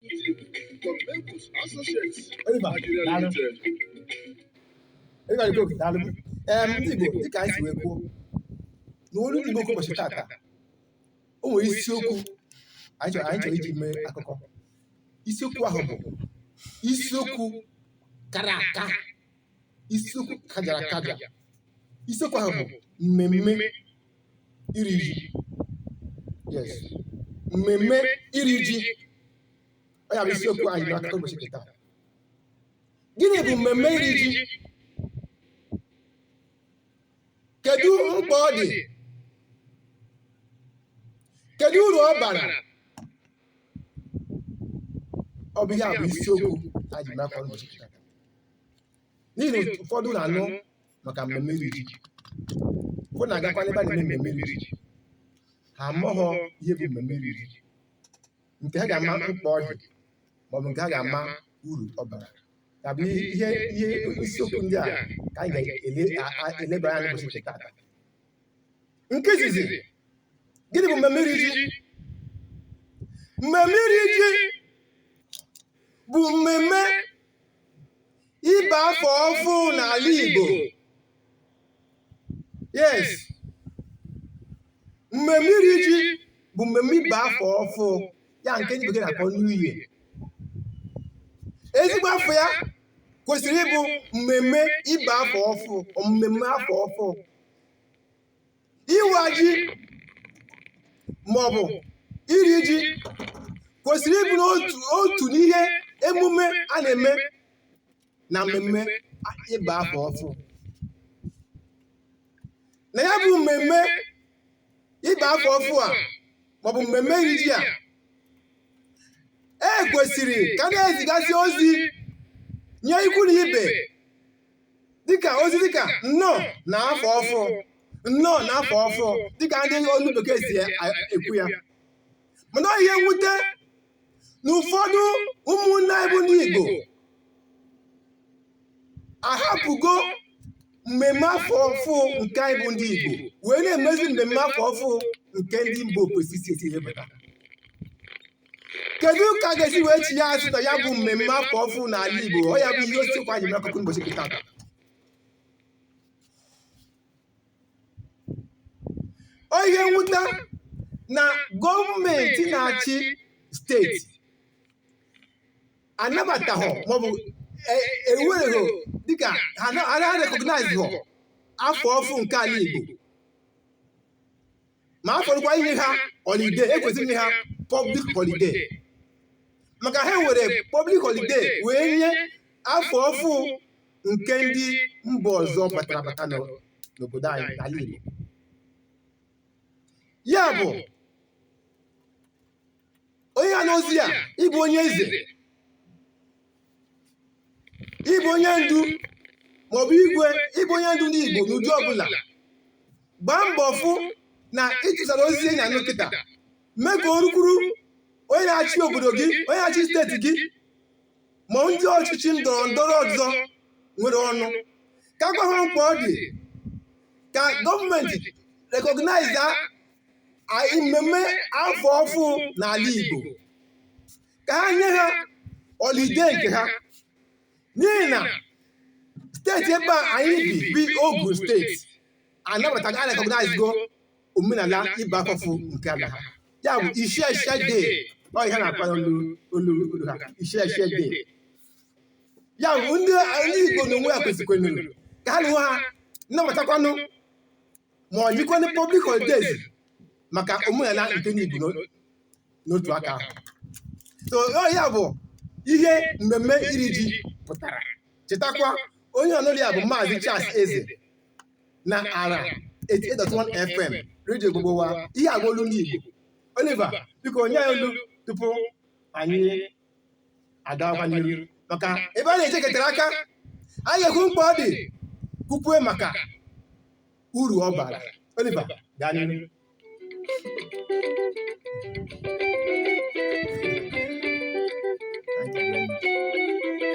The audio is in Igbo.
Members Associates Oliver, Nigeria daalụ. Limited. Oliver Igbo, daalụ. Em, ndị Igbo dịka anyị si wee kwuo na olu ndị Igbo nke ụbọchị tata o nwere isiokwu anyị chọrọ anyị chọrọ iji mee akụkọ isiokwu ahụ bụ isiokwu kara aka isiokwu kajara akaja isiokwu ahụ bụ mmemme iri ji yes mmemme iri ji ọ ya bụ isiokwu anyị n'akụkọ ụbọchị nke taa gịnị bụ mmemme iri ji kedu mkpa ọ dị kedu uru ọ bara ọ bụ ihe a bụ isiokwu anyị n'akụkọ ụbọchị nke taa n'ihi ụfọdụ na-anụ maka mmemme iri ji ụfọdụ na-agakwa n'ebe a na-eme mmemme iri ji ha amaghọ ihe bụ mmemme iri ji nke ha ga-ama mkpa ọ dị maọbụ nke ha ga-ama uru ọ bara ya bụ ihe ihe isiokwu ndị a ka anyị ga-eleba anya n'ụbọchị nke taata nke izizi gịnị bụ mmemme iri ji mmemme iri ji bụ mmemme ịba afọ ọfụ n'ala Igbo yes mmemme iri ji bụ mmemme ịba afọ ọfụ ya nke ndị bekee na-akpọ New Year ezigbo afa ya kwesịrị ịbụ mmemme ịba afọ ọfụ mmemme afọ ọfụ iwa ji maọbụ iri ji kwesịrị ịbụ n'otu otu n'ihe emume a na-eme na mmemme ịba afọ ọfụ na ya bụ mmemme ịba afọ ọfụ a maọbụ mmemme iri ji a e kwesịrị ka a na-ezigasị ozi nye ikwu na ibe dịka ozi dịka nnọọ na afọ ọfụ nnọọ na afọ ọfụ dịka ndị olu bekee si a- ekwu ya mana ọ ihe mwute na ụfọdụ ụmụnne anyị bụ ndị Igbo ahapụgo mmemme afọ ọfụ nke anyị bụ ndị Igbo wee na-emezi mmemme afọ ọfụ nke ndị mba ofesi si esi ebata kedu ka a ga-esi wee chigha azụ na ya bụ mmemme afọ ọfụ n'ala Igbo ọ ya bụ isiokwu anyị n'akụkọ ụbọchị nke tata ọ ihe mwute na gọọmenti na-achị steeti anabataghọ maọbụ e- ewereghọ dịka ha na- ha na-recognize afọ ọfụ nke ala Igbo ma a fọdụkwa inye ha holiday e kwesịrị inye ha public holiday maka ha were public holiday wee nye afọ ọfụ nke ndị mba ọzọ batara bata n'o- n'obodo anyị n'ala Igbo ya bụ onye a nụ ozi a ị bụ onye eze ị bụ onye ndu maọbụ igwe ị bụ onye ndu ndị Igbo n'ụdị ọbụla gbaa mbọ fụ na ị tụsara ozi a ị na-anụ kịta mee ka o rukwuru onye na-achị obodo gị onye na-achị steeti gị ma ndị ọchịchị ndọrọ ndọrọ ọzọ nwere ọnụ ka a gwa ha mkpa ọ dị ka gọọmenti rekọgnaiza mmemme afọ ọfụ n'ala Igbo ka ha nye ha holiday nke ha n'ihi na steeti ebe a anyị bi bụ Ogun steeti anabatago arekọgnaizigo omenala ịba afọ ọfụ nke ala ha ya bụ Isese Day ọ ihe a na-akpọ n'olu olu olu ha Isese Day ya bụ ndị ndị Igbo na onwe ya kwesịkwara ka ha na onwe ha nabatakwanụ ma nyekwanụ public holidays maka omenala nke ndị Igbo n'o- n'otu aka ahụ so ọ ya bụ ihe mmemme iri ji pụtara chetakwa onye ị nụ olu ya bụ maazị Charles Eze na ara 88.1 FM redio gbogbo wa ihe agwa olu ndị Igbo Oliver biko nye anyị olu tupu anyị agawakwa n'iru maka ebe a na-echekọtara aka anyị ga-ekwu mkpa ọ dị kwukwue maka uru ọ bara Oliver gaa n'iru Thank you very much.